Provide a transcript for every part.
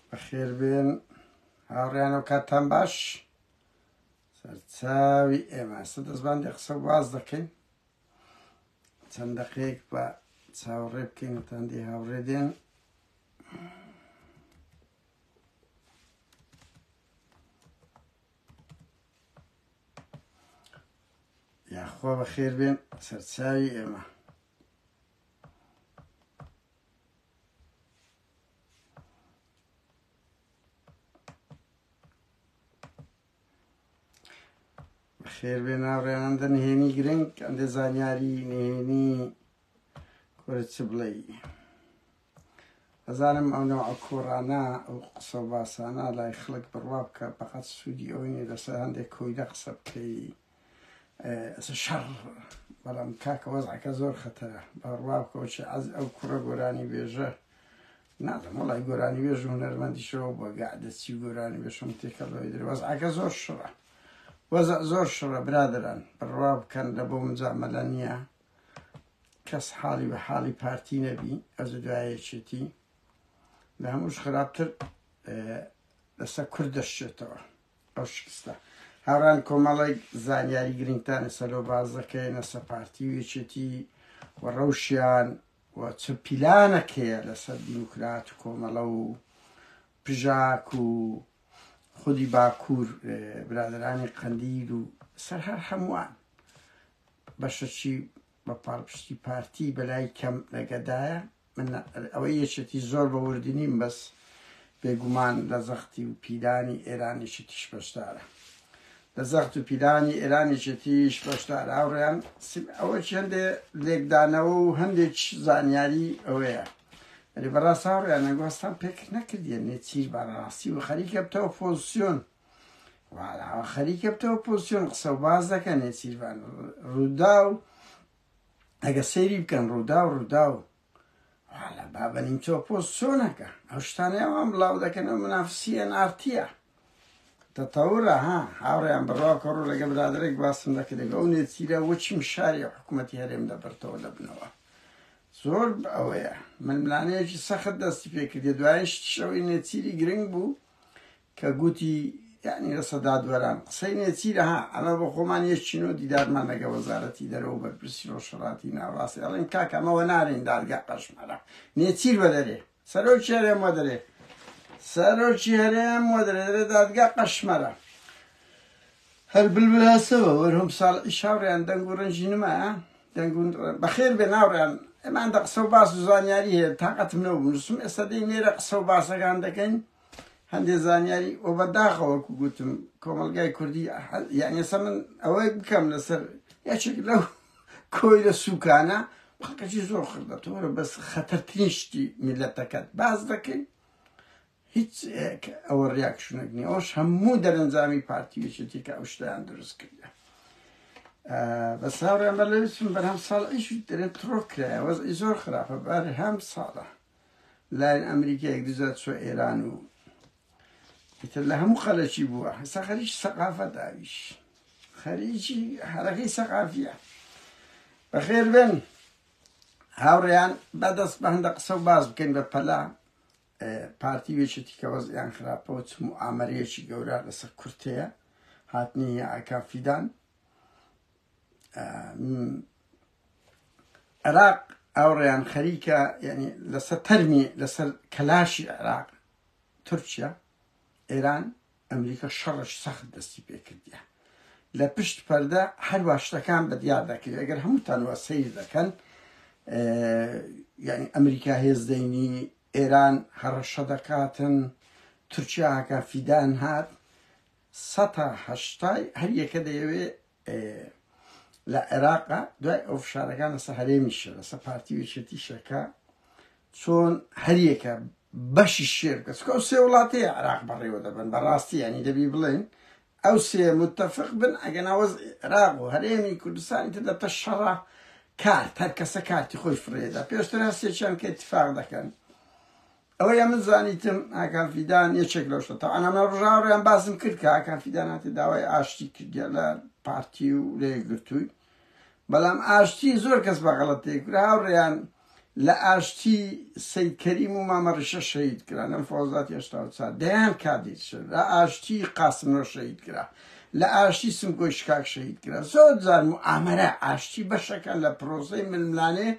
بەخێربێن هاوڕیان و کاتان باش سەرچاوی ئێمە سە دەستبان دە قسە واز دەکەین چەند دەقێک بە چاوەڕێ بکەین وتاندی هاوڕێ دێن یاخوا بەخێربێن سەرچاوی ئێمە خێر بێ ناوڕێناندە نهێنی گرنگ ئەندێ زانیاری نهێنی کورە چ بڵێ ئەزانم ئەو نەوە کۆڕانە ئەو قسە باسانە لای خەڵک بڕوا بکە بەقەت سوودی ئەوەی لەسەر هەندێک کۆیدە قسە بکەی شەڕ بەڵام کاکە وەزعەکە زۆر خەتەرە بەڕوا کۆچی ئەز ئەو کوڕە گۆرانی بێژە نازم وڵی گۆرانی بێژ و هەرمەندیشەوە بە گەعدەچی گۆرانی بێشم تێکەڵەوەی در وەزعەکە زۆر شڕە وەزە زۆر شڕە برادران بڕوا بکەن لە بۆ مجامەلە نییە کەس حاڵی بە حاڵی پارتی نەبی ئەز دوایەچێتی لە هەمووش خراپتر لەسەر کورد دەشتێتەوە ئەو شکستە هاوران کۆمەڵێک زانیاری گرنگتانە سەرۆ باز دەکەێ نەسە پارتی و یەکێتی و ڕەوشیان و چ پیلانەکەیە لەسەر دیموکرات و کۆمەڵە و پژاک و خودی باکوور برادرانی قەندیل و سەر هەر هەمووان بەشەچی بە پاڵپشتی پارتی بەلای کەم نەگەدایە من ئەوەی یەکێتی زۆر بە وردی نیم بەس بێگومان لە زەختی و پیلانی ئێرانیشی تیش بەشدارە لە زەخت و پیلانی ئێرانیشی تیش بەشدار هاوڕێیان ئەوە هەندێ لێکدانەوە و هەندێک زانیاری ئەوەیە ئەلی بەڕاست هاوڕێیان نەگۆستان پێک نەکردیە نێچیر بەڕاستی و خەریکە بتەوە فۆزسیۆن خەریکە بتەوە پۆزیسیۆن قسە و باز دەکەن نێچیرڤان ڕوودا و ئەگە سەیری بکەن ڕوودا و ڕوودا و حالا بابە نیمچۆ پۆست چۆنەکە ئەو شتانەیەوان بڵاو دەکەنە منافسیە نارتیە تەتەورە ها هاوڕێیان بڕاکە ڕوو لەگە برادێک باسم دەکردێک ئەو نێچیرە وەچیم شاری حکوومەتتی هەرێم دەبرتەوە دەبنەوە زۆر ئەوەیە ململانەیەکی سەخت دەستی پێکردێ دوایش شەوەی نێچیری گرنگ بوو کە گوتی یانی رەسە دادوەران قسەی نێچیرە ها ئەمە بۆ خۆمان یش چینۆ دیدارمان لەگە وەزارەتی دەرەوەو بەرپرسی رۆژهەڵاتی ناوەڕاست ئەڵێن کاکە ئەمە وەنارێن دادگا قەشمەرە نێچیر وەدەرێ سەرۆکی هەرێم وەدەرێ سەرۆکی هەرێم وەدەرێ دەرێ دادگا قەشمەرە هەر بلبلاسەوە وەرهۆم ساڵ ئیشاوڕیان دەنگ و ڕنجی نما دەنگ بەخێر بێ ناوڕیان ئەمان دە قسە و باس و زانیاری هەیە تااقەتم نەوە بنووسم ئێستا دەی نێرە قسە و باسەکان دەکەین هەندێ زانیاری و بەداخە وەکو گوتم کۆمەلگای کوردی یعنی ئێستا من ئەوەی بکەم لەسەر یەکێک لەو کۆیلە سوکانە پاکەجی زۆر خردە تۆرە بەس خەتەرترین شتی میلەتەکەت باز دەکەین هیچ ئەوە ریاکشنێک نیە ئەوش هەموو دەرەنجامی پارتی وچێتی کە ئەو شتیان دروست کردە بە ساڕێن بە لەویسم بەرهەم ساڵ ئیش دەێت ترۆکرایە وەز زۆر خراپە بەر هەم ساڵە لایەن ئەمریکیەک دزە چوە ئێران و ئیتر لە هەموو خەلەکی بووە هەستا خەریکی سەقافە داویش خەریکی هەرەکەی سەقافیە بەخێر بن هاوڕێیان بەدەست بە هەندە قسە و باز بکەین بە پەلا پارتی وێچێتی کە وەزیان خراپەوە چم و ئامەرەیەکی گەورە لەسەر کورتەیە هاتنی ئاکافیدان عێراق ئاوڕیان خەریکە یعنی لەسەر تەرمی لەسەر کەلاشی عێراق تورکیا ئێران ئەمریکا شەڕش سەخت دەستی پێکردە لە پشت پەردە هەروە شتەکان بە دیار دەکرێت ئەگەر هەمووتانوە سیر دەکەن یعنی ئەمریکا هێزدەینی ئێران هەڕەشە دەکاتن تورکیاکە فیدان هات سەهشتای هەریەکە دەیەوێت لە عێراقا دوای ئەو فشارەکان لەسەر هەرێمیشە لەسەر پارتی و یەکێتیشەکە چۆن هەریەکە بەشی شێ بکە چکە ئەو سێ وڵاتەیە عراق بەڕێوە دەبن بەڕاستی ینی دەبی بڵێن ئەو سێ متتەفق بن ئەگە ناوەز عێراق و هەرێمی کوردستانی تر دەبتە شەڕە کار هەر کەسە کارتی خۆی فرێدا پێشتر هەستێکیان کە اتفاق دەکەن ئەوەی ئەمن زانیتم ئاکام فیدان یەکێک لەو شتە تەوانا من ڕژا ڕێیان باسم کرد کە ئاکام فیدان هاتە داوای ئاشتی کردیان لە پارتی و لە یەکگرتووی بەڵام ئاشتی زۆر کەس بە غەڵەت تێ کرا هاوڕێیان لە ئاشتی سید کەریم و مامە ڕیشە شەهید کرا لەم فۆزات هێشتا و چار دەیان کادیر شد لە ئاشتی قاسمۆ شەهید کرا لە ئاشتی سمکۆی شکاک شەهید کرا زۆر جار و ئامەرە ئاشتی بەشەکان لە پرۆسەی ململانێ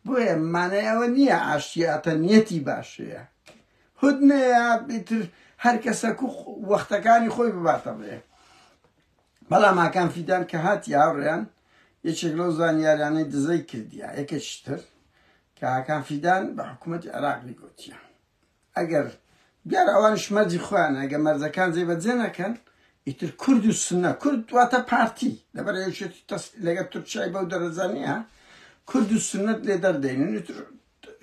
بۆیە مانای ئەوە نیە ئاشتی ئەتە نیەتی باشەیە هودنەیە ئیتر هەر کەسەک و وەختەکانی خۆی بباتە بێ بەڵام ئاکان فیدان کە هاتی هاوڕێیان یەکێک لەو زانیاریانەی دزەی کردیا یەکێکتر کە ئاکان فیدان بە حکوومەتی عێراقی گوتیە ئەگەر دیارە ئەوانیش مەرجی خۆیانە ئەگەر مەرجەکان جێ بەجێ نەکەن ئیتر کورد و سونە کورد واتە پارتی لەبەر یەکێتی تەس لەگەر تورکیای بەو دەرەجە نییە کورد و سونەت لێ دەردەینن ئیتر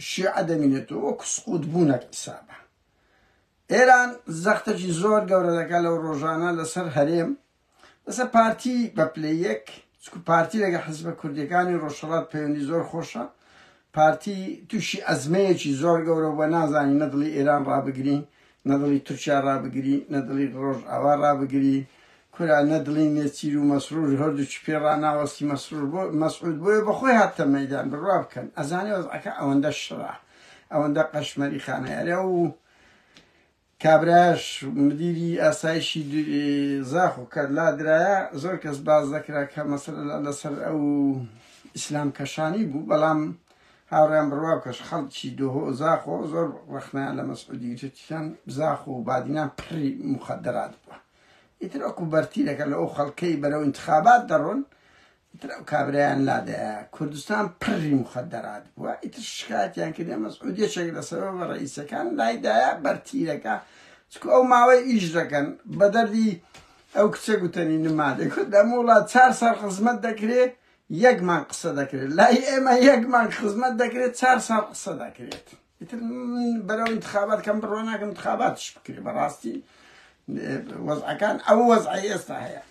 شیعە دەمینێتەوە وەکو سقوط بوونەک حسابە ئێران زەختێکی زۆر گەورە دەکات لەو ڕۆژانە لەسەر هەرێم بەسە پارتی بە پلە یەک چکو پارتی لەگە حزبە کوردیەکانی ڕۆژهەڵات پەیوەندی زۆر خۆشە پارتی تووشی ئەزمەیەکی زۆر گەورە بە نازانی نەدڵی ئێران ڕابگری نەدڵی تورکیا ڕابگری نەدڵی ڕۆژ ئاوا ڕابگری کورا نەدڵی نێچیر و مەسرور هەردووچی پێ ڕناوەستی مەسرور بۆ مەسعود بۆیە بەخۆی هاتە مەدان بڕوا بکەن ئەزانێ وەزعەکە ئەوەندە شڕە ئەوەندە قەشمەری خانەیارە و کابرایش مدیری ئاسایشی زاخۆ کە لادرایە زۆر کەس باس دەکرا کە مەسەلە لەسەر ئەو ئیسلام کەشانی بوو بەڵام هاوڕیان بڕوا کەش خەڵکی دۆهۆ زاخۆ زۆر ڕەخنەیان لە مەسعودی گرتیان زاخۆ و بادینان پڕی مخدرات بووە ئیتر ئەکو بەرتیرەکە لە ئەو خەڵکەی بەرەو انتخابات دەڕۆن ئیتر ئەو کابرایان لادایە کوردستان پڕی موخەدەرات بووە ئیتر شکاتیان کردە مەسعود یەکێک لە سەبەبە ڕئیسەکان لایدایە بەرتیرەکە چکو ئەو ماوەی ئیش دەکەن بە دەردی ئەو کچە گوتەنی نمادێک کورد لەم وڵات چار ساڵ خزمەت دەکرێت یەکمان قسە دەکرێت لای ئێمە یەکمان خزمەت دەکرێت چار ساڵ قسە دەکرێت ئیتر بەرەو انتخابات کەم بڕۆ ناکەم انتخاباتش بکرێت بەڕاستی وەزعەکان ئەو وەزعی ئێستا هەیە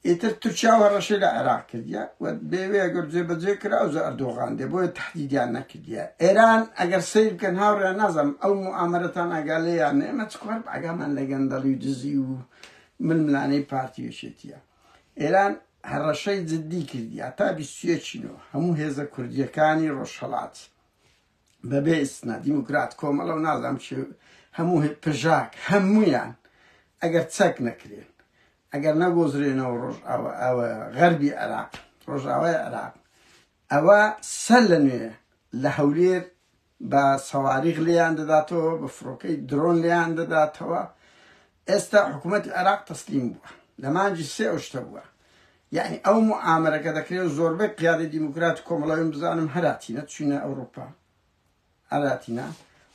ئیتر تورکیا هەڕەشەی لە عێراق کردیە و بێوێ ئەگەر جێبەجێ کرا ئەوجا ئەردۆغان دێ بۆیە تەحدیدیان نەکردیە ئێران ئەگەر سەیر بکەن هاوڕێیان نازانم ئەو موئامەرەتان ئاگا لێ یان نەیە ئێمە چ کار بە ئاگامان لە گەندەڵی و دزی و ململانێی پارتی و یەکێتیە ئێران هەڕەشەی جددی کردیە تا بیست و یەکی نۆ هەموو هێزە کوردییەکانی ڕۆژهەڵات بەبێ ئیسنا دیموکرات کۆمەڵە و نازانم چ هەموو پژاک هەموویان ئەگەر چەک نەکرێن ئەگەر نەگۆزرێنەوە ڕۆژئاوا غەربی عێراق، ڕۆژئاوای عێراق، ئەوا سەر لە نوێ لە هەولێر بە سەواریغ لێیان دەداتەوە، بە فڕۆکەی درۆن لێیان دەداتەوە. ئێستا حکوومەتی عێراق تەسلیم بووە. لە مانگی سێ ئەو شتە بووە. یعنی ئەو موعامەرەکە دەکرێت و زۆربەی قیادەی دیموکرات و کۆمەڵەوەیم بزانم هەراتینە چوینە ئەوروپا. ئاراتینا،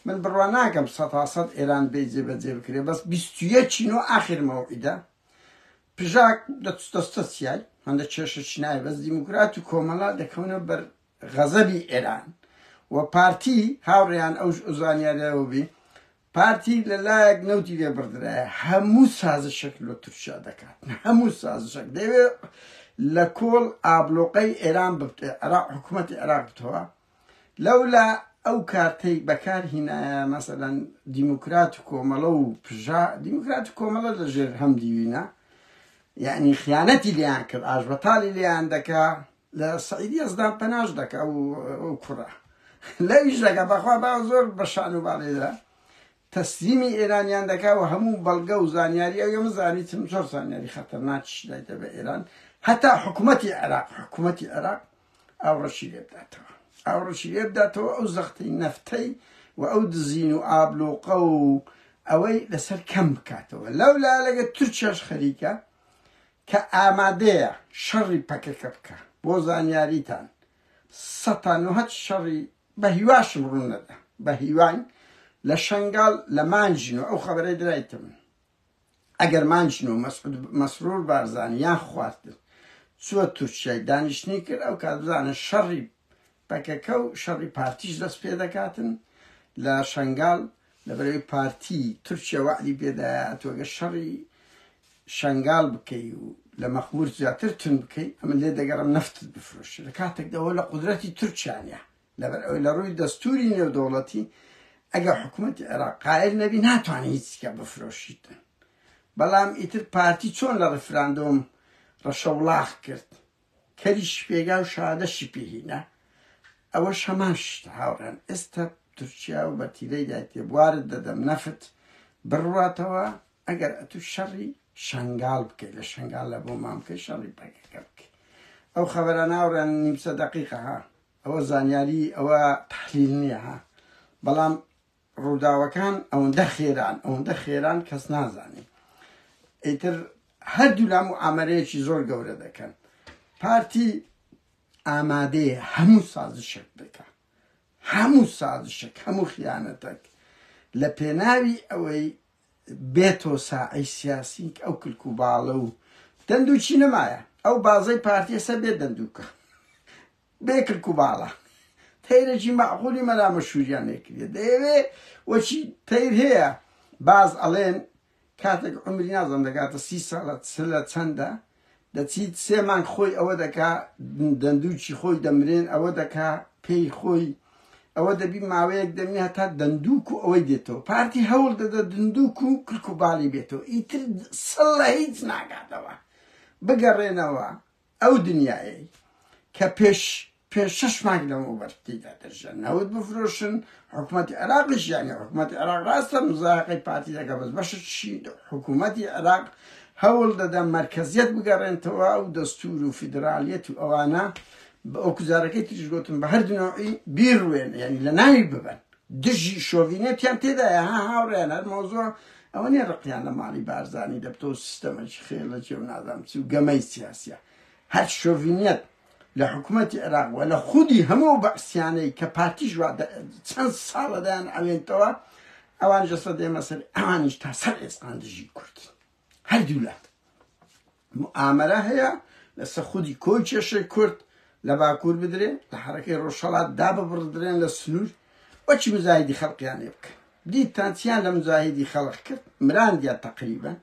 من بڕوا ناکەم سەتا سەد ئێران بێی جێ بە جێ بکرێ بەس بیست و یەک ی نۆ ئاخر مەوعیدە پژاک دەستە چیای هەندە کێشە چینای بەس دیموکرات و کۆمەڵا دەکەونە بەر غەزەبی ئێران و پارتی هاوڕێیان ئەو زانیاریەوە بی پارتی لەلایەک نەوتی لێ بڕدرایە هەموو سازشێک لۆ تورکیا دەکات هەموو سازشێک دەوێت لە کۆڵ ئابلۆقەی ئێران بێ عراق حکوومەتی عراق بتەوە لەولا ئەو کارتەی بەکار هینایە مەسەلەن دیموکرات و کۆمەڵە و پژا، دیموکرات و کۆمەڵە لە ژێر هەم دیوینە، یەعنی خیانەتی لێیان کرد، ئاشبەتاڵی لێیان دەکا، لە سەعید یەزدان پەناش دەکا ئەو کوڕە. لەویش دەکا، بەخوا با زۆر بە شان و باڵێدا تەسلیمی ئێرانیان دەکا و هەموو بەڵگە و زانیاری ئەو ئێمە زانیتن زۆر زانیاری خەتەرناکیش دایتە بە ئێران، هەتا حکومەتی عێراق، حکومەتی عێراق ئاوڕەشی لێ بداتەوە ئاوڕەشی لێ بداتەوە ئەو زەختی نەفتەی و ئەو دزین و ئابلۆقە و ئەوەی لەسەر کەم بکاتەوە لەو لا لەگە تورکیاش خەریکە کە ئامادەیە شەڕی پەکەکە بکە بۆ زانیاریتان سەتان و هەچ شەڕی بە هیواشم ڕوون نەدا بە هیوان لە شنگال لە مانجین و ئەو خەبەرەی درایتم ئەگەر مانجن و مەسعود مەسرور بارزانی یان خواردتر چووە تورکیای دانیشتنی کرد ئەو کات بزانە شەڕی پەکەکە و شەڕی پارتیش دەست پێ دەکاتن لە شەنگال لەبەرەوەی پارتی تورکیا وەعدی پێدایە ئەتوەگە شەڕی شەنگال بکەی و لە مەخمور زیاتر تون بکەی ئەمە لێ دەگەڕم نەفتت بفرۆشی لە کاتێکدەوە لە قدرەتی تورکیانە لەبەر ئەوەی لە ڕووی دەستووری نێودەوڵەتی ئەگەر حکوومەتی عێراق قایل نەبی ناتوانێت هیچ چیکە بفرۆشیتن بەڵام ئیتر پارتی چۆن لە ڕیفراندۆم ڕەشەوڵاخ کرد کەریشی پێگا و شادەشی پێهینا ئەوەش هەمان شت هاوڕێن ئێستا تورکیا و بە تیرەیدا تێبوارت دەدەم نەفت بڕواتەوە ئەگەر ئەتو شەڕی شنگال بکەیت لە شنگال لە بۆ مامکەی شەڕی پەکەکە بکەیت ئەو خەبەرە ناوڕێن نیمسە دقیقە ها ئەوە زانیاری ئەوە تحلیل نیە ها بەڵام ڕووداوەکان ئەوەندە خێران ئەوەندە خێران کەس نازانی ئیتر هەردوو لام و ئامەرەیەکی زۆر گەورە دەکەن پارتی ئامادەیە هەموو سازشێک دەکە هەموو سازشێک هەموو خیانەتەک لە پێناوی ئەوەی بێتۆ ساعی سیاسیک ئەو کلک و باڵە و دەندوچی نەمایە ئەو بازەی پارتیەسە بێ دەندووکە بێ کلک و باڵا تەیرەکی مەعقولی مەلا مەشهوریان لێ کردیە دەیەوێ وەچی تەیر هەیە باز ئەڵێن کاتێک عمری نازم دەگاتە سی ساڵە سلە چەندە دەچیت سێ مانگ خۆی ئەوە دەکا دەندووکی خۆی دەمرێن ئەوە دەکا پێی خۆی ئەوە دەبی ماوەیەک دەمێ هەتا دەندووک و ئەوەی دێتەوە پارتی هەوڵ دەدە دندووک و کلک و باڵی بێتەوە ئیتر سڵە هیچ ناگاتەوە بگەڕێنەوە ئەو دنیایەی کە پێش پێنج شەش مانگ لەمەوبەر تێیدا دەژیان نەوت بفرۆشن، حکومەتی عێراقیش یانی حکومەتی عێراق ڕاستە مزایەقەی پارتی دەکات بەس بەشێکی حکومەتی عێراق هەوڵ دەدەن مەرکەزیەت بگەڕێنتەوە و دەستور و فیدرالیەت و ئەوانە بە ئەو کوزارەکەی تریش گوتم بە هەردوو نەوعی بیڕوێن یانی لە ناوی ببەن دژی شۆڤینێتیان تێدایە ها هاوڕێیان هەر مەوزوع ئەوە نیە ڕقیان لە ماڵی بارزانی دەبتەوە و سیستەمەکی خێڵە چێ و نازام چی و گەمەی سیاسیە هەر شۆڤینێت لە حکومەتی عێراق و لە خودی هەموو ئەو بەعسیانەی کە پارتیش وا چەند ساڵە دەیان ئەوێنتەوە ئەوان ژەسە دێمە سەر ئەوانیش تا سەر ئێسقان دژی کوردی هەردوو لات موئامەرە هەیە لەسە خودی کۆی کێشەی کورد لە باکور بدرێ لە حەرەکەی ڕۆژهەڵات داببڕدرێن لە سنور وەچی مزاهیدی خەڵقیان لێ بکەن دیتان چیان لە مزاهیدی خەڵق کرد مراندیا تەقریبا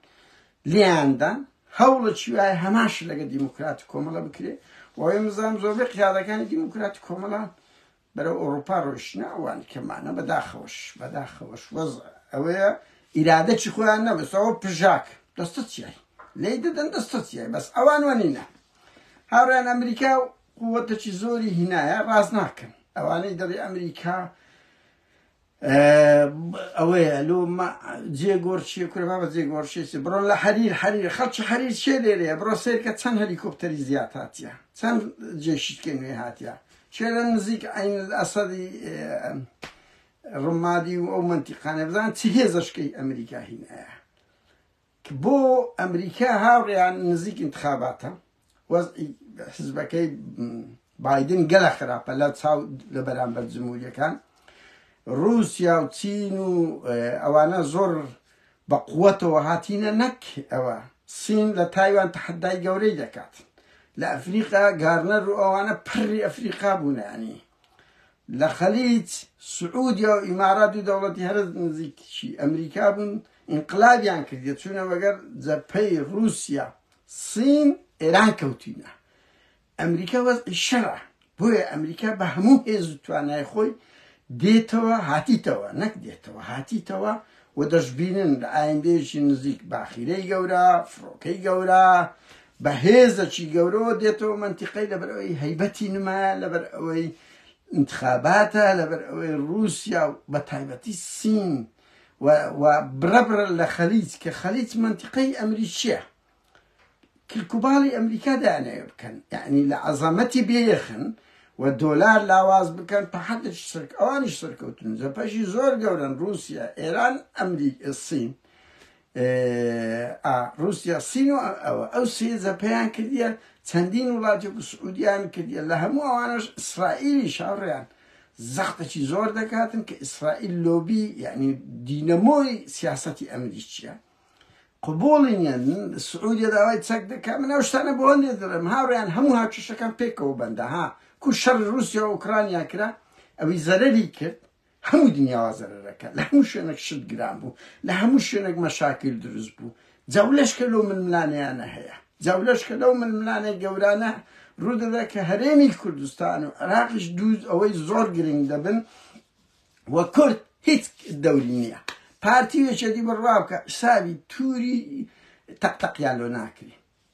لیاندان هەوڵە چی وایە هەماش لەگە دیموکرات کۆمەڵە بکرێ وەوەی مزام زۆربەی قیادەکانی دیموکرات کۆمەڵان بەرەو ئەوروپا ڕۆیشتنە ئەوانی کەمانە بەداخەوەش بەداخەوەش وەزع ئەوەیە ئیرادەکی خۆیان نەبست ئەوە پژاک دەستە چیای لێی دەدەن دەستە چیای بەس ئەوان وەنینە هاوریان ئەمریکا و قووەتەکی زۆری هینایە ڕاز ناکەن ئەوانەی دەڵی ئەمریکا ئەوەیە لۆ جێ گۆر چیە کورە بابە جێ گۆر شێسی بڕۆ لە حەریر حەریر خەڵکی حەریر چێ لێرەیە بڕۆ سێرکە چەند هەلیکۆپتەری زیاد هاتیە چەند جێشتکە نوێ هاتیە چێ لە نزیک عین ئەسەدی ڕمادی و ئەو منتیقانە بزان چ هێزەشکەی ئەمریکا هینایە کە بۆ ئەمریکا هاوڕێیان نزیک ئینتخاباتە وەزعی حزبەکەی بایدن گەلە خراپە لە چاو لە بەرامبەر جمهوریەکان رووسیا و چین و ئەوانە زۆر بە قووەتەوە هاتینە نەک ئەوە سین لە تایوان تحدای گەورەی دەکات لە ئەفریقا گارنەر و ئەوانە پڕی ئەفریقا بوونانی لە خەلیج سعودیا و ئیمارات و دەوڵەتی هەرز نزیکشی ئەمریکا بوون ئینقلابیان کردیە چونە وەگەر جەپەی روسیا سین ئێران کەوتینە ئەمریکا وەزعی شەرع بۆیە ئەمریکا بە هەموو هێز و توانای خۆی دێتەوە هاتیتەوە نەک دێتەوە هاتیتەوە و دەشببینن لە ئایندێکی نزیک باخیرەی گەورە فڕۆکەی گەورە بە هێزەکی گەورەوە دێتەوە منتیقەی لەبەر ئەوەی هەیبەتی نمایە لەبەر ئەوەی انتخاباتە لەبەر ئەوەی رووسیا و بە تایبەتی سین و و بڕە بڕە لە خەلیج کە خەلیج مەنتیقەی ئەمریکییە کلکوباڵی ئەمریکا دانەوێ بکەن یعنی لە عەزەمەتی بێخن و دۆلار لاواز بکەن پە حەدش سرک ئەوانیش سەرکەوتن جەپەشی زۆر گەورن رووسیا ئێران ئەمریک سین ئا ڕوسیا سین و ئەوە ئەو سێ زەپەیان کردیە چەندین وڵاتێک و سعودیان کردیە لە هەموو ئەوانەش ئیسرائیلیش هاوڕێیان زەختەکی زۆر دەکاتن کە ئیسرائیل لۆبی یعنی دینەمۆی سیاسەتی ئەمریکیە قبوڵی نیە سعودیە داوای چەک دەکات من ئەو شتانە بۆ هەندێ دەڵێم هاوڕێیان هەموو هاوکێشەکان پێکەوە بەندە ها کو شەڕ رووسیا و ئۆکرانیا کرا ئەوی زەرەری کرد هەموو دنیاوا زەرەرەکە لە هەموو شوێنەک شت گران بوو لە هەموو شوێنەک مەشاکیل دروست بوو جاو لەشکە لەو ململانێیانە هەیە جاو لەشکە لەو ململانێ گەورانە ڕوودەدا کە هەرێمی کوردستان و عراقیش دوو ئەوەی زۆر گرنگ دەبن و کورد هیچ دەوری نییە پارتی وێچەدی بڕوا بکە ساوی توری تەقتەقیان لۆ ناکری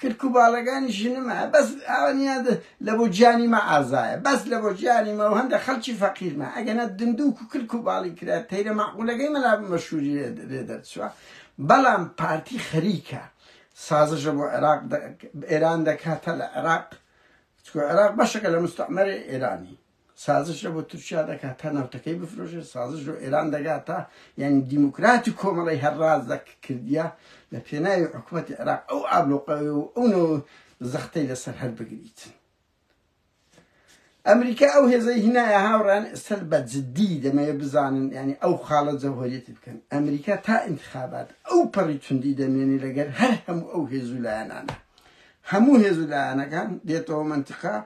کرک و باڵەگانی ژنمە بەس ئاوا نیە لەبۆ جانی مە ئازایە بەس لەبۆ جانی مە و هەندە خەلکی فەقیر مە ئەگەنە دندوک و کرک و باڵی کرا تەیرە مەعقولەگەی مەلا مەشوری لێ دەرچوە بەڵام پارتی خەریکە سازشە بۆ عێراق ئێران دەکاتە لە عێراق چکۆ عێراق بەشەکە لە مستەعمەرێ ئێرانی. سازش لە بۆ تورکیا دەکات تا نەوتەکەی بفرۆشێت سازش لۆ ئێران دەگات تا یعنی دیموکرات و کۆمەڵی هەر ڕاست دەک کردیە لە پێناوی حکوومەتی عێراق ئەو ئابلۆقەوێ و ئەو نەوە زەختەی لەسەر هەر بگریت ئەمریکا ئەو هێزەی هینایە هاوڕان ئێستەر بە جددی دەمەوێت بزانن ینی ئەو خاڵە جەوهریەتی بکەن ئەمریکا تا انتخابات ئەو پەڕی توندی دەمێنی لەگەر هەر هەموو ئەو هێزولایەنانە هەموو هێزولایەنەکان دێتەوە منتقا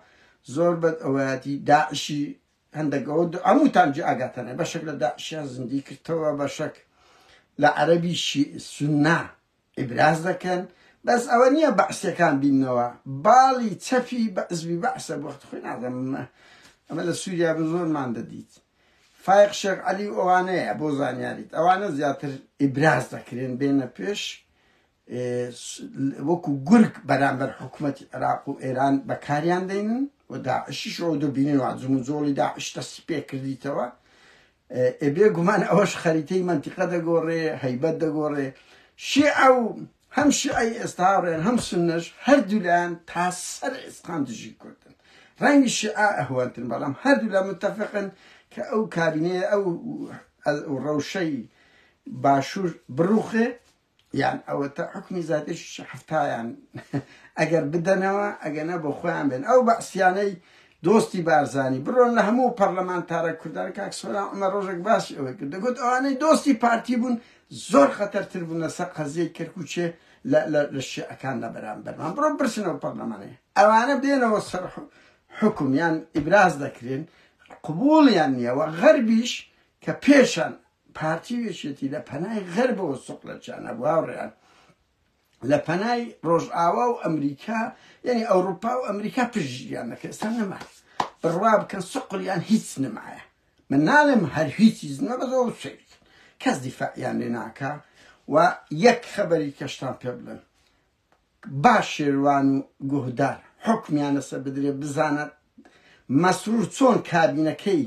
زۆر بەد ئەوەیاتی داعشی هەندەک ئەوە هەمووتان جێ ئاگاتانە بەشێک لە داعشیان زیندی کردەوە بەشەک لە عەرەبی سنە ئیبراز دەکەن بەس ئەوە نییە بەعسەکان بینەوە باڵی چەپی بەعزبی بەعسە بەخت خۆی نازەم ئەمە لە سووریا بە زۆرمان دەدیت فایق شێخ علی ئەوانەیە بۆ زانیاریت ئەوانە زیاتر ئیبراز دەکرێن بێنە پێش وەکو گورگ بەرامبەر حکومەتی عێراق و ئێران بەکاریان دەینن و داعشیش ئەوە دەبینن وا جموجۆڵی داعش دەستی پێکردیتەوە ئێ بێ گومان ئەوەش خەریتەی مەنتیقە دەگۆڕێ هەیبەت دەگۆڕێ شیعە و هەم شیعەی ئێستا هاوڕێن هەم سنەش هەردوولایان تا سەر ئێسقان دژی کوردن ڕەنگی شیعە ئەهوەنتن بەڵام هەردوو لە متتەفقن کە ئەو کابینەیە ئەو ڕەوشەی باشوور بڕوخێ یان ئەوەتە حوکمی زادیش حەفتایان ئەگەر بدەنەوە ئەگەنە بۆ خۆیان بێن ئەو بەعسیانەی دۆستی بارزانی بڕۆن لە هەموو پەرلەمانتارە کوردان کاک سۆران عمە ڕۆژێک باسی ئەوەی کرد دەگوت ئەوانەی دۆستی پارتی بوون زۆر خەتەرتر بوون لەسەر قەزیەی کەرکوچێ لە شیعەکان لە بەرامبەرمان بڕۆ برسنەوە پەرلەمانەیە ئەوانە بێنەوە سەر حکومیان ئیبراز دەکرێن قبولیان نییەوە غەربیش کە پێشان پارتی و یەکێتی لە پەنای غەربەوە سوق لە چیان هەبوو هاوڕێیان لە پەنای ڕۆژئاوا و ئەمریکا یعنی ئەوروپا و ئەمریکا پشتگیان دەکرد ئێستا نەما بڕوا بکەن سقلیان هیچ نمایە من ناڵێم هەر هیچی زنە بە زۆر سوێ بکەن کەس دیفاعیان لێ ناکە و یەک خەبەری کەشتان پێ بڵێن با شێروان و گوهدار حوکمیان لەسەر بدرێت بزانە مەسرور چۆن کابینەکەی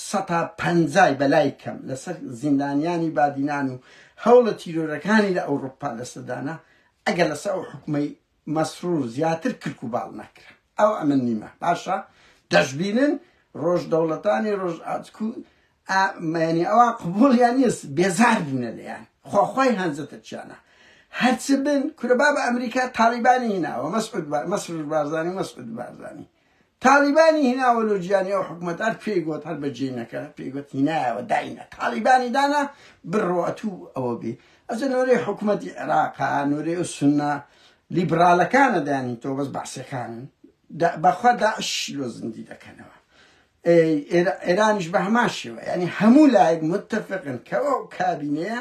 سەتا پەنجای بەلای کەم لەسەر زیندانیانی بادینان و هەوڵە تیرۆرەکانی لە ئەوروپا لەسەدانا ئەگەر لەسەر ئەو حکومەی مەسرور زیاتر کرک و باڵ نەکرا ئەو ئەمن نیمە باشە دەشبینن ڕۆژ دەوڵەتانی ڕۆژ ئاچکو ئا مەیەنی ئەوان قبوڵیان نیەس بێزار بونە لێیان خۆ خۆی هەنجە ترکیانە هەر چ بن کورە بابە ئەمریکا تاڵیبانی هیناوە مەسعود با مەسرور بارزانی مەسعود بارزانی تاڵیبانی هیناوە لۆ جیانی ئەو حکومەت هەر پێی گوت هەر بە جینەکە پێی گوت هینایەوە داینە تاڵیبانی دانا بڕۆەتوو ئەوە بێ ئەجە نۆرەی حکوومەتی عێراقا نۆرەی و سنە لیبرالەکانە دانی تۆ بەس بەعسەکانن بەخوا داعش لۆ زندی دەکەنەوە ئێرانیش بە هەمان شێوە یانی هەموو لایەک متفقن کە ئەو کابینەیە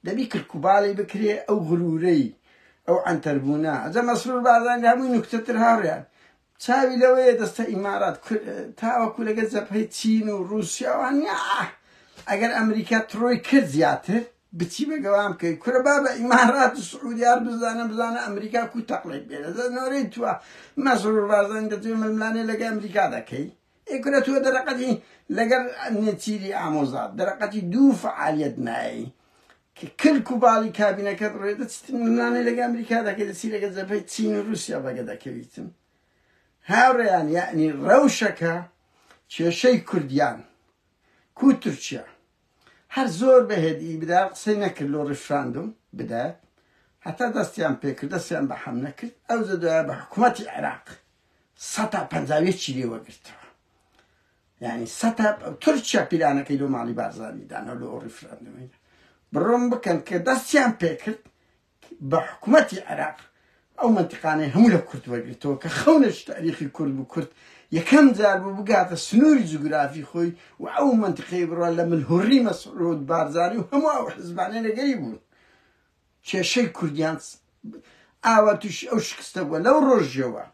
دەبی کرکوباڵی بکرێ ئەو غرورەی ئەو ئەنتەربوونا ئەجا مەسرور بارزان لە هەمووی نوکتەتر هاوریان چاوی لەوەیە دەستە ئیمارات تاوەکو لەگە جەبهەی چین و رووسیاوان ئەگەر ئەمریکا تڕۆی کرد زیاتر بچی بە گەوان بکەی کورە بابە ئیمارات و سعودی عەرب بزانە بزانە ئەمریکا کو تەقڵێک بێ لە نۆرەی توە مەسرور بارزانی دەتوێ ململانێ لەگە ئەمریکا دەکەی ئێ کورە تۆ دەرەقەتی لەگەر نێچیری ئامۆزات دەرەقەتی دوو فعالیت نایی کە کلک و باڵی کابینەکەت ڕێدە چت ململانێ لەگە ئەمریکا دەکەی دەچی لەگە جەبهەی چین و رووسیا بەگە دەکەویتن هاوڕێیان یعنی ڕەوشەکە کێشەی کوردیان کو تورکیا هەر زۆر بەهێد ی برا قسەی نەکرد لۆ ڕیفراندوم بدات هەتا دەستیان پێکرد دەستیان بە حەملە کرد ئەوجە دوایە بە حکومەتی عێراق سەتا پەنجا و یەکی لێ وەگرتەوە یانی سەتا تورکیا پیلانەکەی لۆ ماڵی بارزانی دانەوە لۆ ڕیفراندومی بڕۆم بکەن کە دەستیان پێکرد بە حکومەتی عێراق ئەو مەنتقانەی هەموو لە کورد وەرگرتەوە کە خەونێکی تاریخی کورد بوو کورد یەکەم جار بوو بگاتە سنووری جوگرافی خۆی و ئەو مەنتقەی بڕە لە ملهوڕی مەسعود بارزانی و هەموو ئەو حزبانەی لەگەری بوون کێشەی کوردیان ئاوا تووشی ئەو شکستە بووە لەو ڕۆژیەوە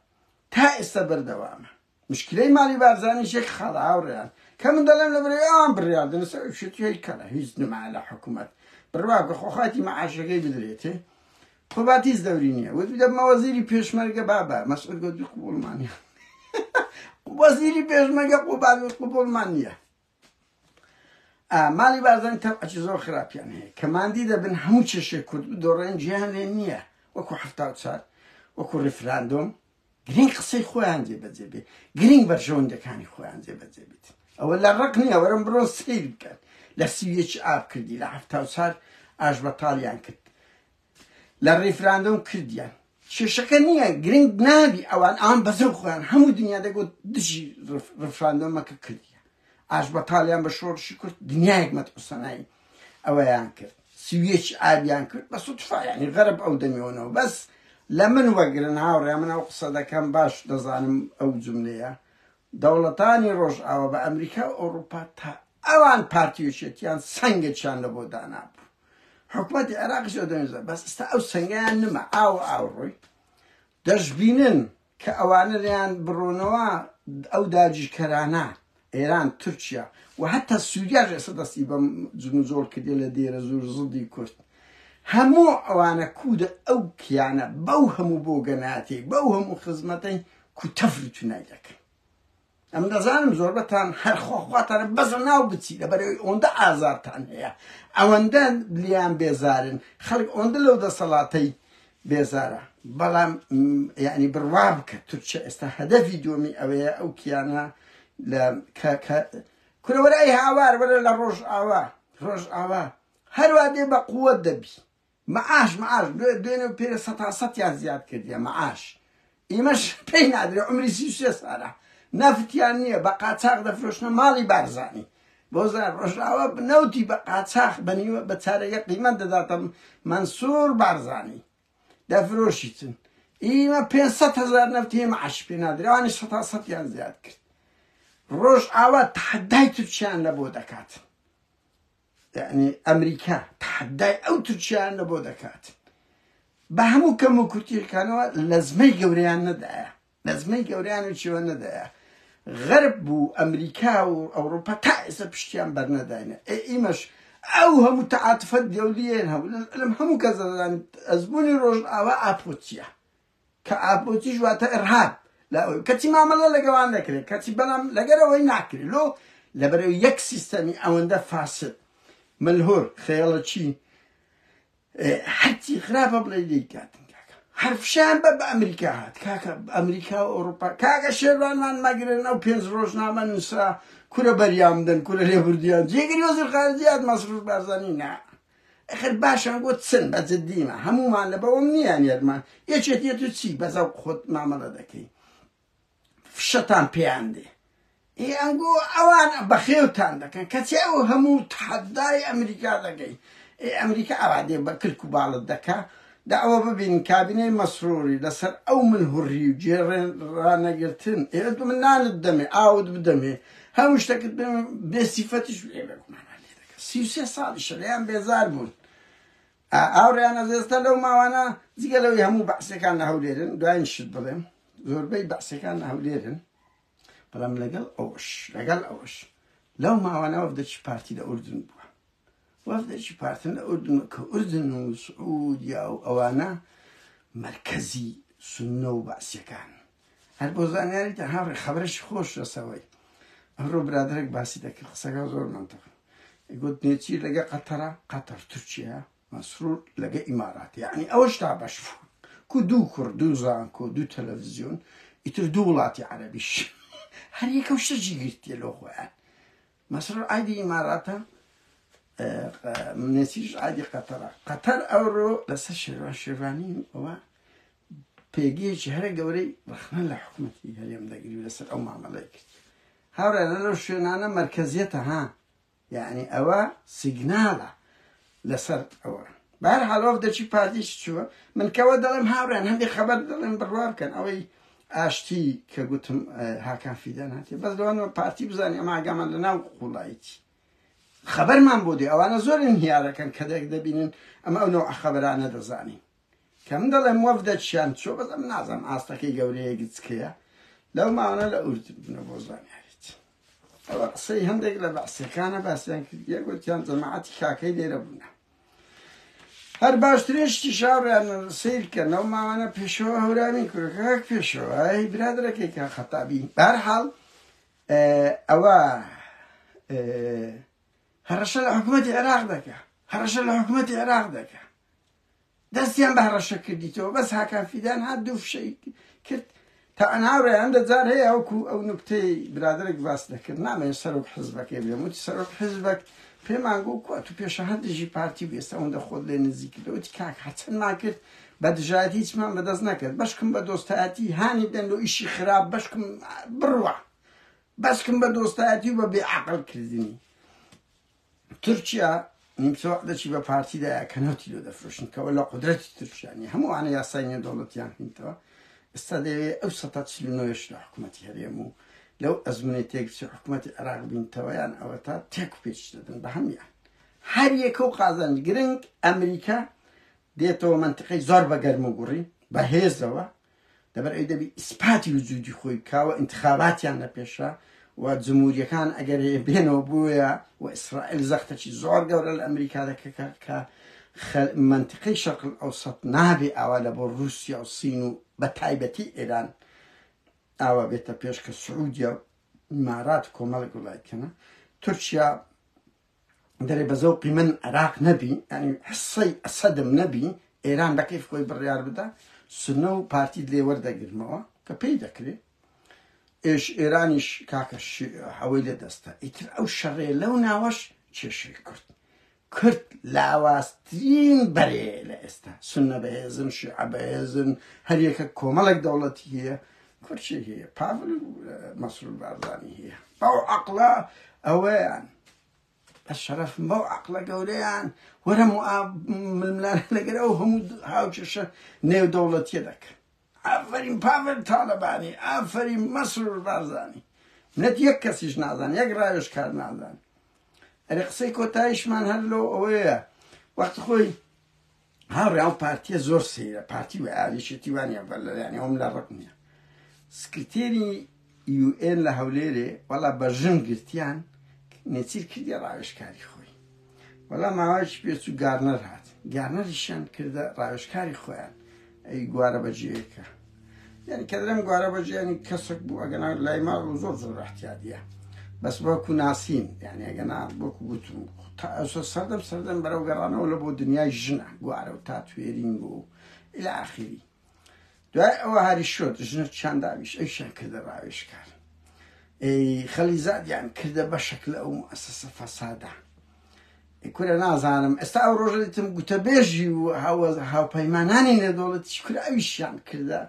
تا ئێستا بەردەوامە مشکلەی مالی بارزانیش یەک خاڵە هاوڕێیان کە من دەڵێم لەبەرەی ئەوان بڕیار دەن لەسەر ئەو شتی هەی کەڵە هیچ نمایە لە حکوومەت بڕوا بکە خۆ خاتی مەعاشەکەی بدرێتێ خۆ بات هیچ دەوری نییە وت دەبمە وەزیری پێشمەرگە بابە مەسعود گوت قوبوڵمان نییە وەزیری پێشمەرگە قوبات قوبوڵمان نییە ماڵی بارزانی تەبعەکی زۆر خراپیان هەیە کە ماندی دەبن هەموو کێشەی کورد بدۆڕێن جێیان لێ نییە وەکو حەفتا و چار وەکو ڕیفراندۆم گرنگ قسەی خۆیان جێبەجێ بێت گرنگ بەرژەوەندەکانی خۆیان جێبەجێ بێت ئەوە لە ڕق نییە وەرم بڕۆن سیر بکەن لە سیویەکی ئاب کردی لە هەفتا و چار ئاش بەتاڵیان کرد لە ریفراندۆم کردیان کێشەکە نییە گرنگ نابی ئەوان ئەوان بەزەو خۆیان هەموو دنیا دەگوت دژی ریفراندۆمەکە کردیە ئاش بە تاالیان بە شۆڕشی کرد دنیایەک مەت قسەنایی ئەوەیان کرد سویەکی ئابیان کرد بە سوتفاانی غەرب ئەو دەمیەوەەوە بەس لە من وەگرن هاوڕێ من ئەو قسە دەکەم باش دەزانم ئەو جملەیە دەوڵەتانی ڕۆژئاوە بە ئەمریکا و ئەوروپا تا ئەوان پارتیوچێتیان سنگێکیان لە بۆ دانابوو حکومەتی عێراقیش لە دەنگدان بەس ئستا ئەو سەنگەیان نما ئاو ئاو ڕووی دەشبینن کە ئەوانە لەیان بڕۆنەوە ئەو داگیرکەرانە ئێران تورکیا و هەتا سووریاش ئێستا دەستی بەم جنوزۆڵ کردێ لە دێرە زۆر زڵدی کورد هەموو ئەوانە کوودە ئەو کیانە بەو هەموو بۆ گەناتی بەو هەموو خزمەتەی کوتەفرتونای دەکەن ئەمن دەزانم زۆربەتان هەر خوا خواتانە بەزە ناو بچی لەبەرەوەی ئۆندە ئازارتان هەیە ئەوەندە لیان بێزارن خەڵک ئۆندە لەو دەسەڵاتەی بێزارە بەڵام یعنی بڕوا بکە تورکیا ئێستا هەدەفی دومی ئەوەیە ئەو کیانە لە کورەوەرای هاوار وەرە لە ڕۆژ ئاوا ڕۆژ ئاوا هەروادێ بە قووەت دەبی معاش معاش بوێت بێنێ و پێ سەتا سەتیان زیاد کردیە معاش ئیمەش پێی نادرێ عمری سی سێ سارە نەفتیان نییە بە قاچاق دەفرۆشنە ماڵی بارزانی بۆزار ڕۆژاوە نەوتی بە قاچاخ بەنیوە بە چارەگە قیمەت دەداتم منسوور بارزانی دەفرۆشیتن ئیمە پێ هزار نەفتی معاش پێ نادرێوانی سەتا سەتیان زیاد کرد ڕۆژ ئاوا تحدای تورکیان لە بۆ دەکات یعنی ئەمریکا تەحەدای ئەو تورکیانە بۆ دەکات بە هەموو کەم و کورتیەکانەوە لەزمەی گەوریان نەدایە لەزمەی گەوریان و چێوە نەدایە غەرب بوو ئەمریکا و ئەوروپا تا ئێستا پشتیان بەرنەداینە ئێ ئیمەش ئەو هەموو تەعاتفەت گەولیێن هەبوو لەم هەموو کەزەدان ئەزمموی ڕۆژ ئاوا ئاپۆچیە کە ئابروتیش واتە ئرهاب لە ئەوەی کەچی مامەڵە لەگەوان دەکرێت کەچی بەڵام لەگەر ئەوەی ناکرێت لۆ لەبەرەوە یەک سیستەمی ئەوەندە فاسد ملهور خێڵەکی هەرچی خراپە بڵێ لێی کاتن کاکە هەرفشان بە بە ئەمریکا هات کاکە ئەمریکا و ئەوروپا کاکە شێوانمان مەگرن ئەو پێنج ڕۆژنامە نووسرا کورە بەریامدن کورە لێبوردیان جێگری وەزیر خارجیات مەسرور بارزانانی نا ئەخر باشە بۆ چن بە جدیمە هەموومان لە بەوەم نییە نێرمە یەکێتیت و چی بە زەوق خۆت مامەڵە دەکەی فشەتان پێیان دێ ئی ئەنگۆ ئەوان بەخێوتان دەکەن کەچی ئەو هەموو تحەدای ئەمریکا دەکەی ئێ ئەمریکا ئەوا دێ بە کلک و باڵت دەکا دا ئەوە ببینین کابینەی مەسروری لەسەر ئەو من هوڕی و جێڕێن ڕانەگرتن ئێوە دو من نانت دەمێ ئاوت بدەمێ هەموو شتەکت بێ سیفەتیش بێ بەگومان سی و سێ ساڵیشە لێیان بێزار بوون ئاوڕیان ئەزێستە لەو ماوانە جگە لەوەی هەموو بەعسەکان لە هەولێرن دوایین شت بڵێم زۆربەی بەعسەکان لە هەولێرن بەڵام لەگەڵ ئەوش لەگەڵ ئەوش لەو ماوانە وەفدەکی پارتی لە ئوردن بووە وەفدەکی پارتن لە ئوردن کە ئوردن و سعودیا و ئەوانە مرکزی سنە و بەعسەکان هەر بۆ زانیاری تان هاوڕێ خەبەرێکی خۆش لەسەوەی ئەمڕۆ برادرێک باسی دەکرد قسەکە زۆر منتەق گوت نێچی لەگە قەتەرە قەتەر تورکیا مەسرور لەگە ئیمارات یعنی ئەوە شتا بەش کو دوو کوڕ دوو زانکۆ دوو تەلەڤزیۆن ئیتر دوو وڵاتی عەربیش هەر یەکە و شەجی گرتیە لۆ خۆیان مەسرور ئایدی ئیماراتە نێچیش ئایدی قەتەرە قەتەر ئەوڕۆ لەسەر شێوان شێوانین ئەوە پێگەیەکی هەرە گەورەی ڕەخنە لە حکومەتی هەرێم دەگری و لەسەر ئەو مامەڵەی کرد هاورانە لەو شوێنانە مرکزیەتە ها یعنی ئەوە سیگنالە لەسەر ئەوە بار حاڵۆف دەچی پارتیش چووە من کەەوە دەڵێم هاوران هەندی خەبەر دەڵێن بڕوا بکەن ئەوەی ئاشتی کە گوتم هاکان فیدان هاتی بەس لەوانەوە پارتی بزانانی ئەمە ئاگامان لە ناو قوڵایتی خەبەرمان بۆ دێ ئەوانە زۆرن هیارەکەن کە دەک دەبینن ئەمە ئەو نەوە خەبەرانە دەزانین کە من دەڵێم وەفدە چیان چۆ بەزە من نازم ئاستەکەی گەورەیە گچکەیە لەو ماوەە لە ئورد بنە بۆ زانیاریت ئەوە قسەی هەندێک لە بەعسەکانە باسیان کرد یەکوتیان جەماعەتی کاکەی لێرە بوونە هەر باشترێشتی شاڕیان سیرکە نەو ماوانە پێشەوە هەورامی کورەکەک پێشەوە هی برادرەکەی کە خەتابی بارحاڵ ئەوە هەڕەشە لە حکوومەتی عێراق دەکە هەڕەشە لە حکوومەتی عێراق دەکە دەستیان بە هەڕەشە کردیتەوە بەس هاکان فیدان هات دوو فشەی کرد تا ئەناوڕێ هەندە جار هەیە ئەوکو ئەو نکتەی برادێک باس دەکرد نامێ سەرۆک حزبەکەی بێ وتی سەرۆک حزبەک پێمان گو کوات و پێشە هەر دژی پارتی بێستە ئەوەندە خۆت لێ نزیک کردەوەتی کاک هەرچەندمان کرد بە دژایەت هیچمان بەدەست نەکرد بەشکم بە دۆستایەتی هانی دەن و ئیشی خراپ بەشکم بڕوە بەشکم بە دۆستایەتی و بە بێعقل کردنی تورکیا نیمچە وەخت دەچی بە پارتی دایە کە نەوتی لۆ دەفرۆشن کەەوە لە قدرەتی تورکیا نیە هەموو وانە یاسای نیە دەوڵەتیان هینتەوە ئستا دەوێ ئەو سە چلنۆش لە حکوومەتتی هەرێم و لەو ئەزمونەی تێکچی حکوومەتتی عراق بینتەوەیان ئەوە تا تێک و پێچ دەدن بە هەمیان هەر یەکە و قازان گرنگ ئەمریکا دێتەوە منتقەی زۆر بە گەرم و گوڕی بە هێزەوە لەبەر ئەوی دەبی ئیسپاتی وجودی خۆی بکاوە ئینتخاباتیان لە پێشە و جمهوریەکان ئەگەر بێنەوە بووە و ئیسرائیل زەختەکی زۆر گەورە لە ئەمریکا دەکە کە منطقەی شەقل ئەو سەد نابێ ئاوا لە بۆ رووسیا و سین و بە تایبەتی ئێران ئاوا بێتە پێش کە سعودیا و مارات کۆمەڵک وڵاتکەنە تورکیا گەرێ بە زەوقی من عێراق نەبی ینی حسەی ئەسەدم نەبی ئێران بە کەیف خۆی بڕیار بدا سنە و پارتی لێ وەردەگرمەوە کە پێی دەکرێت ئێش ئێرانیش کاکە حەوەی لە دەستە ئیتر ئەو شەڕێ لەو ناوەش کێشەی کرد کرد لاواسترین بەرێ لە ئێستا سنە بەهێزن شیعە بەهێزن هەریەکە کۆمەڵێک دەوڵەتی هەیە کورچی هی پاڤل و مەسرور بارزانی هیە بەو عەقڵە ئەوەیان بە شەرەف بەو عەقڵە گەورەیان وەرە ململان لەگەر ئەو هەموو هاوکێشە نێودەوڵەتیە دەکەن ئافرین پاڤل تاالبانی ئافری مەسرور بارزانی منەت یەک کەسیش نازان یەک ڕاوێش کار نازان ئەرێ قسەی کۆتایشمان هەر لۆ ئەوەیە وەخت خۆی ها ڕیاڵ پارتیە زۆر سەیرە پارتی و ئالیشێتی وانە بەر لەلایانی ئەوم لە ڕق نییە سکرتێری یوئێن لە هەولێرێ وەڵا بە ژن گرتیان نێچیر کردی ڕاوێشکاری خۆی وەڵا ماوەیەکی پێچ و گارنەر هات گارنەریشیان کردە ڕاوێشکاری خۆیان ئەی گوارە بەجێیەکە یعنی کە درم گوارە بە ژیانی کەسک بوو ئەگەنا لای ماڵ و زۆر زۆر احتیادیە بەس بەکو ناسین یعنی ئەگەنا بۆکو گوتم تا ئەوسە سەردەم سەردەم بەرەو گەڕانەوە لە بۆ دنیای ژنە گوارە و تاتوێرینگ و الى آخری دوای ئەوە هاری شۆت ژنە چیان داویش ئەوشیان کردە ڕاوێشکار خەلیزادیان کردە بەشەک لە ئەو ئەسەسە فەسادە کورە نازانم ئێستا ئەو ڕۆژە دیتم گوتەبێژی و هاوپەیمانانی نێودەوڵەتی کوراویشیان کردە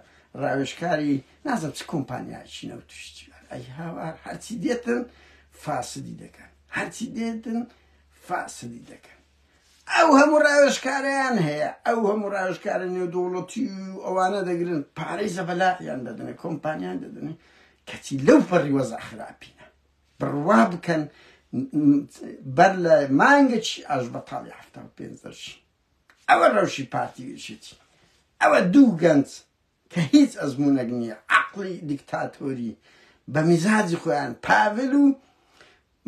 ڕاوێژکاری نازم چ کۆمپانیایکی نەوتشتی ئەی هاوار هەرچی دێتن فاسدی دەکەن هەرچی دێتن فاسدی دەکەن ئەو هەموو ڕاوێژکاریان هەیە ئەو هەموو ڕاوێژکارە نێودوڵەتی و ئەوانە دەگرن پارەی زەبەلایان دەدنێ کۆمپانیان دەدنێ کەچی لەو پەڕی وەزا خراپینە بڕوا بکەن بەر لە مانگێکی ئاشبەتاڵی حەفتا و پێنج دەرچی. ئەوە ڕەوشی پارتی و یەکێتی. ئەوە دوو گەنج کە هیچ ئەزموونێک نییە، عەقڵی دیکتاتۆری بە میزاجی خۆیان، پاڤل و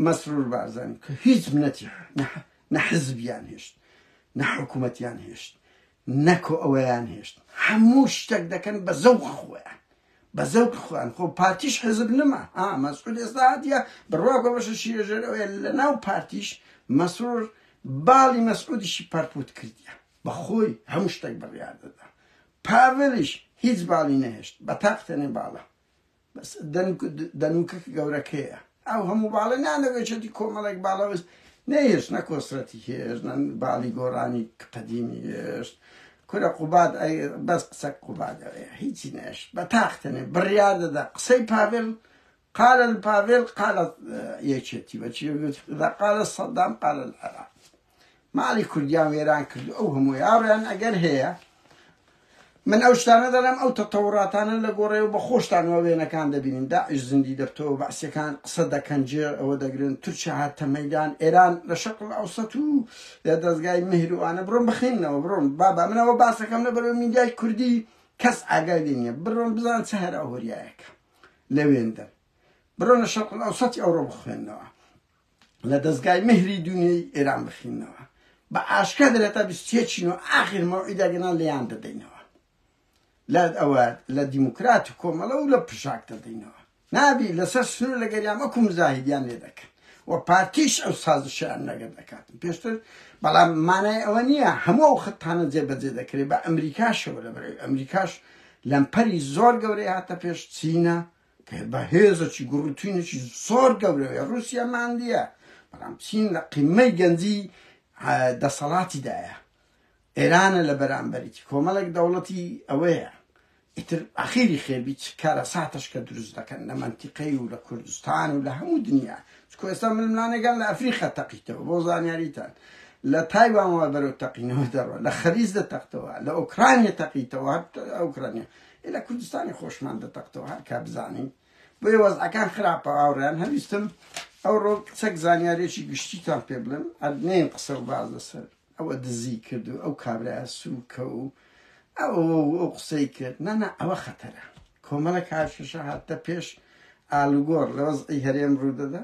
مەسرور بارزانی کە هیچ منەتی نە حزبیان هێشت، نە حکوومەتیان هێشت، نەکۆ ئەوەیان هێشت هەموو شتەک دەکەن بە زەوق خۆیان بە زەوق خۆیان خۆ پارتیش حزب نما ها مەسعود ئێستا هاتیە بڕوا کۆ بەشە شیرەژێرەوەیە لە ناو پارتیش مەسرور باڵی مەسعودیشی پەرپوت کردیە بە خۆی هەموو شتەک بڕیار دەدا پاڤلیش هیچ باڵی نەهێشت بە تاقتێنێ باڵە بەس دەنک دەنوکک گەورەکەیە. ئەو هەموو باڵە نانەوێچێتی کۆمەڵێک باڵەوەس نەهێشت نە کۆسرەتی هێشت نە باڵی گۆڕانی قەدیمی هێشت کورە قوباد ئەی بەس قسە قوبادەوەیە هیچی نەش بە تاختەنێ بڕیار دەدا قسەی پاڤێل قال الباڤێل قالە یەکێتی بەچی قالە سەدام قالە العراق ماڵی کوردیان وێران کردو ئەو هەمووە یاڕۆیان ئەگەر هەیە من ئەو شتانە دەڵێم ئەو تەتەوڕاتانە لە گۆڕێەوە بە خۆشتان وە وێنەکان دەبینین داعش زیندی دەبتەوە بەعسیەکان قسە دەکەن جێ ئەوە دەگرن تورکیا هاتە مەدان ئێران لە شەقڵ ئەوسەت و لە دەستگای مهروانە بڕۆم بخینەوە بڕۆم بابا منەوە باسەکەم لە بەرەوە میدیای کوردی کەس ئاگای لێ نییە بڕۆن بزان چ هەرا هۆریایەکە لەوێندە بڕۆنە شەقڵ ئەوسەتی ئەوڕۆ بخوێندنەوە لە دەزگای مهری دونیەی ئێران بخیننەوە بە ئاشکرا دەرێتە بیست و یەک چین و ئاخر مەوعیدە گەنان لێیان دەدەینەوە لە ئەوە لە دیموکرات و کۆمەڵە و لە پشاک دەدەینەوە نابی لەسەر سنوور لە گەریان وەکو مزاهیدیان لێ دەکەن و پارتیش ئەو سازشیان لەگەر دەکات پێشتر بەڵام مانای ئەوە نییە هەموو ئەو خەتانە جێبەجێ دەکرێت بە ئەمریکاشەوە لە بەرەوەی ئەمریکاش لەمپەری زۆر گەورەی هاتە پێش چینە گەر بە هێزەکی گوڕوتینێکی زۆر گەورەوەی ڕووسیا ماندییە، بەڵام چین لە قیممەی گەنجی دەسەڵاتیدایە. ئێرانە لە بەرانبەریی کۆمەڵێک دەوڵەتی ئەوەیە. ئیتر ئاخیری خێبی چ کارەساتەش کە دروست دەکەن لە مەنتیقەی و لە کوردستان و لە هەموو دنیا، چونکوە ئێستا ململانێکان لە ئەفریقا تەقیتەوە، بۆ زانیاریتان لە تایوانەوە بەرەو تەقینەوە دەڕوات، لە خەلیج دەتەقتەوە، لە ئۆکرانیا تەقیتەوە، هەر ئۆکرانیا. ئیلە کوردستانی خۆشمان دەتەقتەوە هەر کە بزانین بۆیە وەزعەکان خراپە هاوڕێیان هەویستم ئەوڕۆ چەک زانیارێکی گشتیتان پێ بڵێم ئەدنین قسە و باز لەسەر ئەوە دزی کرد و ئەو کابرایە سوکە و ئەو ئەو قسەی کرد نەنا ئەوە خەتەرە کۆمەڵە کارشەشە هاتە پێش ئالوگۆڕ لە وەزعی هەرێم ڕوودەدا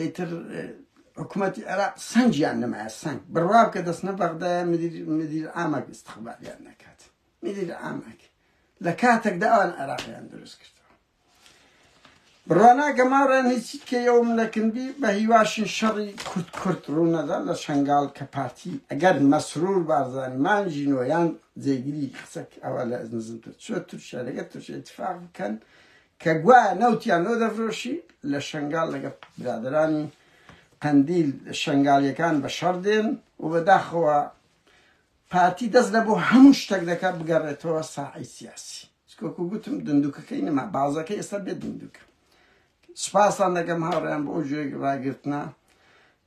ئیتر حکوومەتی عێراق سنگیان نمایە سنگ بڕواب کە دەستنە بەغدایە مدیر ئاماک استخباریان نەکات مدیر ئاماک لە کاتێکدا ئەوان عێراقیان دروست کرد بڕوانا گەماڕێن هیچی کەەوەم لەکردی بە هیواشین شەڕی کورت کورت ڕوونەدا لە شنگال کە پارتی ئەگەر مەسرور بارزانانی مانجی نۆیان جێگیری قسەک ئەوە لە نزمتر چوە تورکیا لەگە تورکیا اتفاق بکەن کە گوایە نەوتیان لۆ دەفرۆشی لە شەنگال لەگەڵ برادەرانی قەندیل شەنگالیەکان بە شەڕ دێن و بەداخەوە پارتی دەست لە بۆ هەموو شتەک دەکە بگەڕێتەوە ساعی سیاسی سکۆکو گوتم دندوکەکەی نەما بازەکە ئێستا بێت دندوکە سپاسان دەکەم هاوڕیان بۆ ئەو جۆێک ڕاگرتنا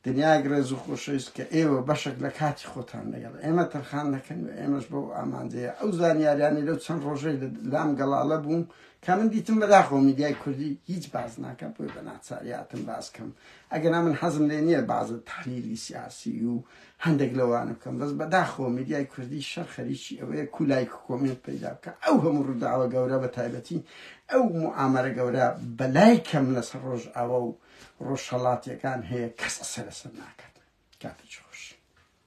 دنیایەک ڕێز و خۆشەویست کە ئێوە بەشێک لە کاتی خۆتان لەگەڵ ئێمە تەرخان دەکەن و ئێمەش بەو ئامانجەیە ئەو زانیاریانەی لەو چەند ڕۆژەی لام گەڵاڵە بووم کە من دیتم بەداخەوە میدیای کوردی هیچ باز ناکە بۆی بە ناچاریاتم باز کەم ئەگەنا من حەزم لێ نییە بازە تحلیلی سیاسی و هەندێک لەوانە بکەم بەس بەداخەوە میدیای کوردی شەر خەریکی ئەوەیە کولایک کۆمنت پەیدا بکە ئەو هەموو ڕووداوە گەورە بە تایبەتی ئەو معامەرە گەورە بەلای کەم لەسەر ڕۆژ ئاوا و ڕۆژهەڵاتیەکان هەیە کەس سەرەسەر ناکات کاتێکی خۆش.